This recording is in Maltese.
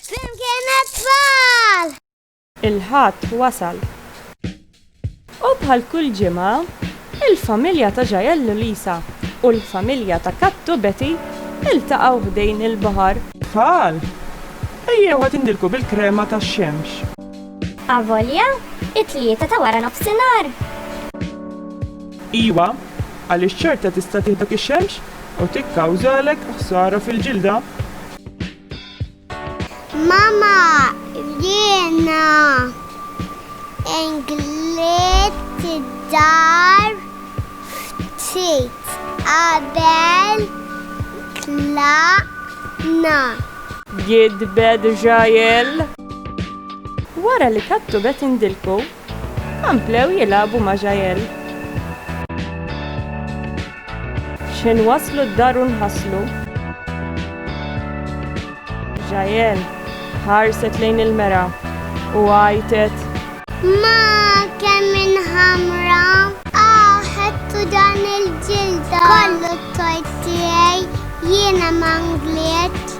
Flimkien għat-tfal! Il-Ħadd wasal. U bħal kull ġimgħa, il-familja ta' Jael Lisa u l-familja ta' Kattu Betty iltaqgħu ħdejn il-baħar. Tfal, ejjew ħa tindilku bil-krema tax-xemx. Avolja, it-Tlieta ta' wara nofsinhar! Iwa, għaliex ċerta tista' tieħdok ix-xemx? U tikkawżalek ħsara fil-ġilda. Mama, jiena inglidt id-dar ftit qabel tlaqna. Gidbet Jael. Wara li kattu beda jindilku, Komplew jilagħbu ma' Jael. X'ħin waslu d-dar u nħaslu. Jael ħarset lejn il-mera u għajtet. Ma kemm inħamra! Aw ħedtu dan il-ġilda! Kollu t-tort tiegħi, jiena ma nglietx!